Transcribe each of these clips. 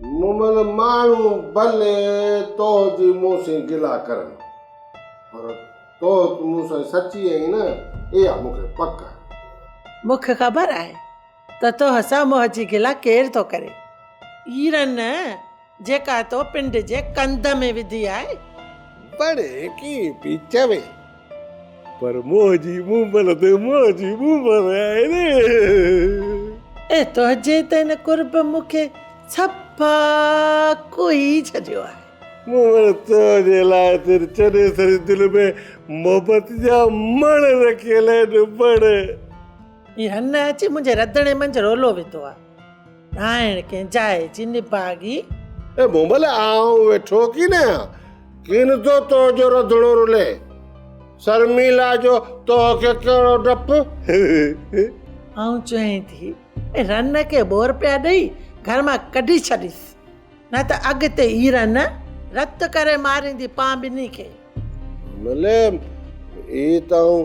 مومل ماڻهو ڀلي توهه جي مون سين گلا ڪرن پر توهه ته مون سان سچي آهين نه اها مون کي پڪ آهي. مون کي خبر آهي ته توهه سان موهه جي گلا ڪير ٿو ڪري. ايرن نه جيڪا تو پنڊ جي ڪنڌ ۾ وڌي آهي. بڙي ڪي پي چوي. پر منهنجي مومل تي منهنجي مومل آهي ري. اي تنهنجي ته ان قرب مون کي صفا ڪوهي ڇڏيو آهي. مومل تنهنجي لاء تر چني سري دل ۾ محبت جا مڻ رکيل آهن مڻ. هن اچي منهنجي رڌڻي منجهه رولو وڌو آهي. ناهڻ ڪنهن جاء جي نڀاڳي. اي مومل آئون ويٺو ڪين آهيان، ڪين ٿو تو جو رڌڻو رلي. سرميلا جو تو کي ڪهڙو ڊپ. آئون چوين ٿي اي رن کي ٻور پيا ڏئي گهر مان ڪڍي ڇڏيس، نه ته اڳتي هي رن رت ڪري ماريندي پان ٻنهي کي. مومل اي ته آئون.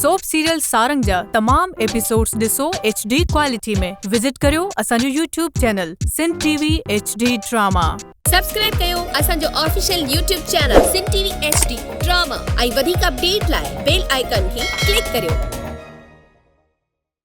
سوپ سيريل سارنگ جا تمام ايپيسوڊز ڏسو ايڇ ڊي ڪوالٽي ۾ وزٽ ڪريو اسان جو YouTube channel Sindh T V H D drama. Subscribe ڪيو اسان جو official YouTube channel Sindh T V H D drama ۽ وڌيڪ اپڊيٽ لاء بيل آئيڪان کي ڪلڪ ڪريو.